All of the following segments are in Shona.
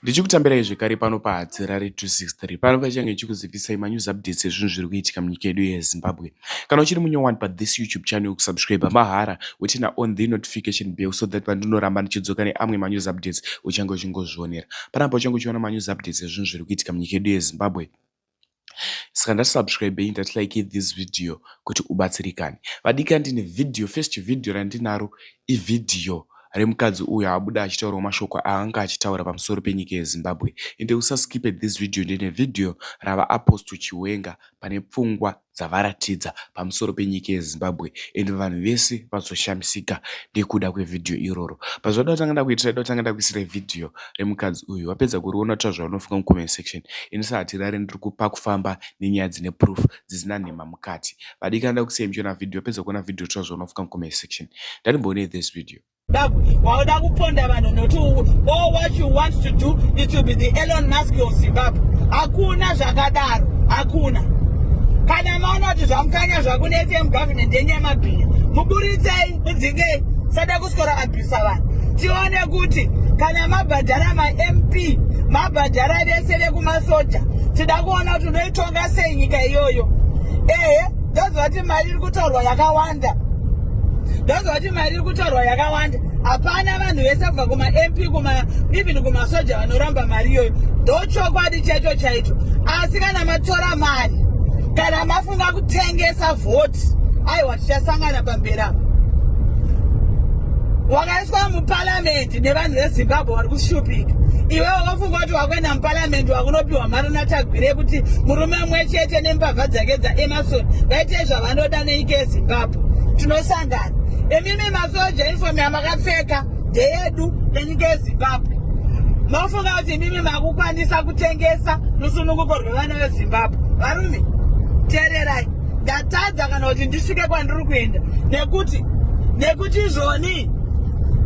Ndichikutambirai zvekare pano paHadzirare 263 pano pachange ndichikuzivisai manews updates ezvinhu zviri kuitika munyika yedu yeZimbabwe. Kana uchiri munyowani pathis YouTube channel kusubscribe mahara wotina on the notification bell so that pandinoramba ndichidzoka neamwe manews updates uchange uchingozvionera. Panapa uchange uchiona manews updates ezvinhu zviri kuitika munyika yedu yeZimbabwe. saka ndati subscribei ndati likei this video kuti ubatsirikane vadika ndine video first video randinaro ivhidhiyo remukadzi uyo abuda achitaurawo mashoko aanga achitaura pamusoro penyika yezimbabwe ende usaskipe this video ndine vhidhiyo rava apostle chiwenga pane pfungwa dzavaratidza pamusoro penyika yeZimbabwe and vanhu vese vazoshamisika nekuda kwevideo iroro but zvoda kutanga ndakuitira ndoda kutanga ndakuisira video remukadzi uyu wapedza kuriona uta zvaunofunga mucomment section inisa hatirare ndiri kupa kufamba nenyaya dzine proof dzisina nhema mukati vadikana ndakusiya muchiona video wapedza kuona video tura zvaunofunga mucomment section ndandimboonei this video wauda kuponda vanhu nokuti all what you want to do it will be the elon musk of zimbabwe hakuna zvakadaro hakuna kana maona kuti zvamukanya zvakune fm government yenyu yemabhinya muburitsei mudzingei sada kuswera abhisa vanhu tione kuti kana mabhadhara mamp mabhadhara vese vekumasoja tida kuona kuti unoitonga sei nyika iyoyo ehe ndozovati mari iri kutaurwa yakawanda ndozovati mari iri kutaurwa yakawanda hapana vanhu vese kubva kumamp kuma even kumasoja vanoramba mari iyoyo ndo chokwadi chaicho chaicho asi kana matora mari kana mafunga kutengesa vhoti aiwa tichasangana pamberi apa wakaiswa muparamende nevanhu vezimbabwe wari kushupika iwe wakafunga kuti wakuenda muparamende wakunopiwa mari natagwire yekuti murume mwe chete nembavha dzake dzaemarsoni vaite zvavanoda nenyika yezimbabwe tinosa Imimi masoja uniform yamakapfeka ndeyedu enyika yezimbabwe mafunga kuti imimi makukwanisa kutengesa rusununguko rwevana vezimbabwe varume teererai ndatadza kana kuti ndisvike kwandiri kuenda nekuti nekuti izvoni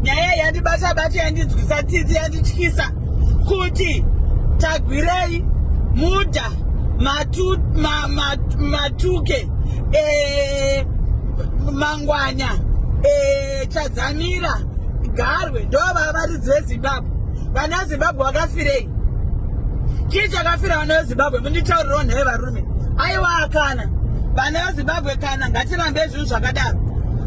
nyaya yandibata bata yandinzwisa tsitsi yandityisa kuti tagwirei muda matuke ma, ma, ma, eh, mangwanya eh, chadzamira garwe ndovava varidzi vezimbabwe vana vezimbabwe vakafirei chii chakafira vana vezimbabwe munditaurirawo nhaye varume aiwa kana vana vezimbabwe kana ngatirambe zvinhu zvakadaro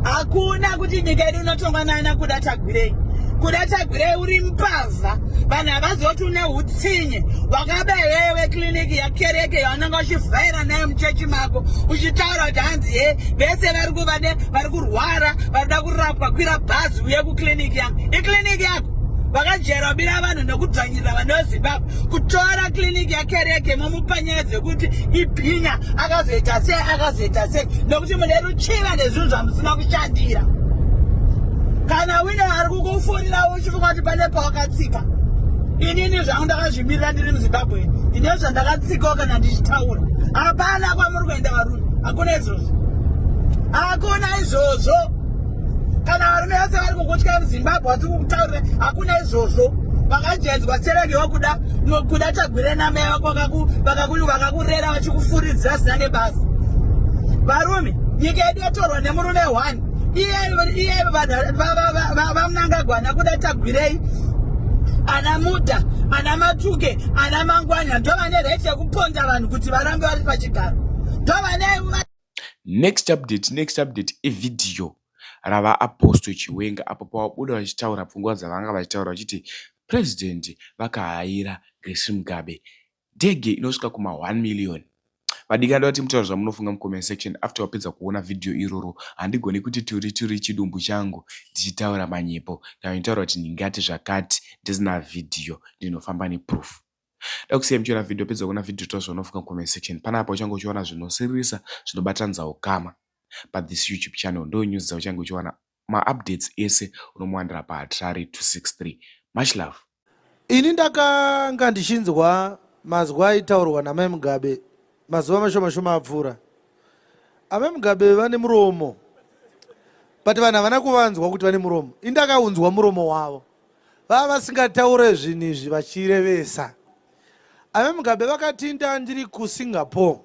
hakuna kuti nyika yedu inotongwa naana kuda tagwirei kuda tagwirei uri mbavha vanhu havazoti une utsinye wakabaiwewe kliniki ya kereke yaunenge uchivhaira nayo muchechi mako uchitaura kuti hanzi he vese vari kuvade vari kurwara varikuda kurapwa kwira bhazi uye kuclinic yangu iclinic yako vakajera kubira vanhu nekudzvanyirira vana vezimbabwe kutora clinic yakereke momupanyaya dzekuti ibhinya akazoita sei akazoita sei nekuti mune ruchiva nezvinhu zvamusina kushandira kana wine ari kukufonira Chikwati pane pawakatsika inini zvangu ndakazvimirira ndiri muzimbabwe ndine zvandakatsikawo kana ndichitaura hapana kwamuri kuenda varume hakuna izvozvo hakuna izvozvo kana varume vese vari kukutya muzimbabwe vasi kukutaurira hakuna izvozvo vakajaidzwa serege wakuda kuda tagwire namai vako vakakurera vachikufuridzira zina nebasa varume nyika yedu yatorwa nemurume one iye vamunangagwana kuda tagwirei ana muta ana matuke ana mangwanya ndovane right yekuponda vanhu kuti varambe vari pachigaro ndovane next update next update evideo rava apostle chiwenga apo pavabuda vachitaura pfungwa dzavanga vachitaura vachiti president vakahayira grace mugabe ndege inosvika kuma 1 million vadiki anoda kuti mutaura zvamunofunga mucomment section after wapedza kuona vhidhiyo iroro handigoni kuti turi turi chidumbu changu ndichitaura manyepo kana nditaura kuti ndingati zvakati ndisina vhidhiyo ndinofamba neproof da kusiya muchiona vhidhiyo pedza kuona vhidhiyo taura zvaunofunga mucomment section panapa uchange uchiona zvinosiririsa zvinobatanidza ukama but this youtube channel ndo news dzauchange uchiwana Ma updates ese unomuwanira pa Harare 263. Much love. Ini ndakanga ndichinzwa mazwi aitaurwa namai Mugabe mazuva mashoma shoma apfuura. Amai Mugabe vane muromo but vanhu havana kuvanzwa kuti vane muromo. Ini ndakaunzwa muromo wavo vava vasingataure zvinhu izvi vachirevesa. Amai Mugabe vakati nda ndiri kuSingapore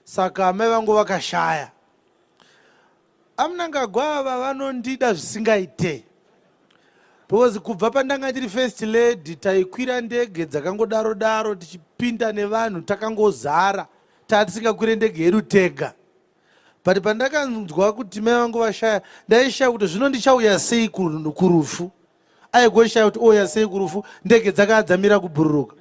saka amai vangu vakashaya. Amnangagwa ava vanondida zvisingaite because kubva pandanga ndiri first lady taikwira ndege dzakangodaro daro tichipinda nevanhu takangozara taa tisingakwire ndege yedu tega but pandakanzwa kuti mai vangu vashaya ndaishaya kuti zvino ndichauya sei kurufu aigoshaya kuti ouya oh, sei kurufu ndege dzakaa dzamira kubhururuka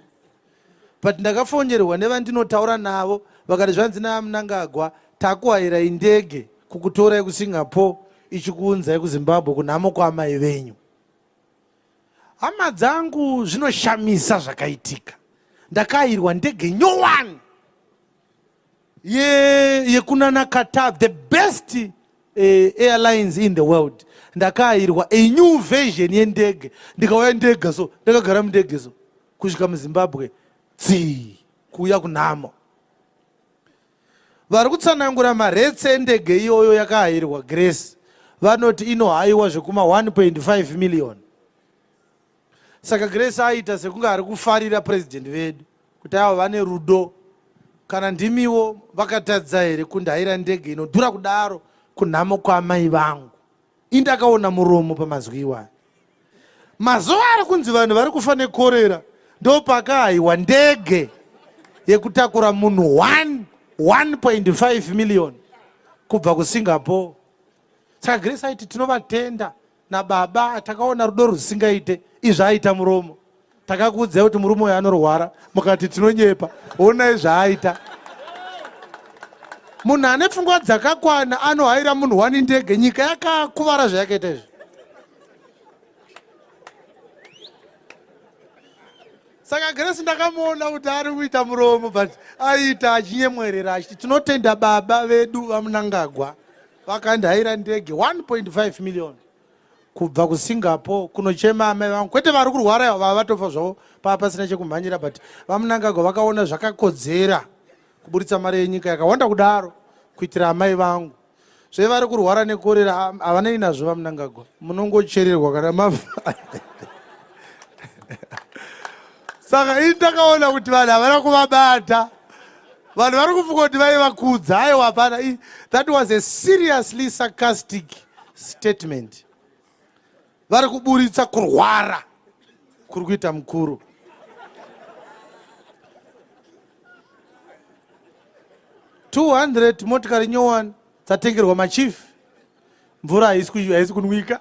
but ndakafongerwa nevandinotaura navo vakati zvanzi naamnangagwa takuhairai ndege kukutorai kusingapore ichikuunzai kuzimbabwe kunhamo kwaamai venyu hama dzangu zvinoshamisa zvakaitika ndakairwa ndege nyowani ye yekunana Qatar the best uh, airlines in the world ndakaayirwa a new version yendege ndikauya ndega so ndakagara mundege so kusvika muzimbabwe dzii kuuya kunhamo vari kutsanangura maretse endege iyoyo yakaayirwa grace vanoti inohayiwa zvekuma 1.5 million saka grace aita sekunge ari kufarira president vedu kuti avo vane rudo kana ndimiwo vakatadza here kundaira ndege inodhura kudaro kunhamo kwaamai vangu indakaona muromo pamazwi iwayo mazuva ari kunzi vanhu vari kufa nekorera ndopakaahiwa ndege yekutakura munhu 1.5 million kubva kusingapore saka grace aiti tinovatenda nababa takaona rudo rwusingaite izvi aita muromo takakuudzai kuti murume uyo anorwara mukati tinonyepa onai zvaaita munhu ane pfungwa dzakakwana anohaira munhu wani ndege nyika yakakuvara zvayakaita izvi saka gresi ndakamuona kuti ari kuita muromo but aiita achinyemwerera achiti tinotenda baba vedu vamunangagwa vakandihaira ndege 1.5 million kubva kusingapore kunochema amai vangu kwete vari kurwara vava vatofa zvavo pava pasina chekumhanyira but vamunangagwa vakaona zvakakodzera kuburitsa mari yenyika yakawanda kudaro kuitira amai vangu zve vari kurwara nekorera havanei nazvo vamunangagwa munongochererwa kana mava saka ini ndakaona kuti vanhu havana kuvabata vanhu vari kufunga kuti vaivakudza aiwa hapana that was a seriously sarcastic statement vari kuburitsa kurwara kuri kuita mukuru two hundred motikari nyowani dzatengerwa machief mvura haisi kunwika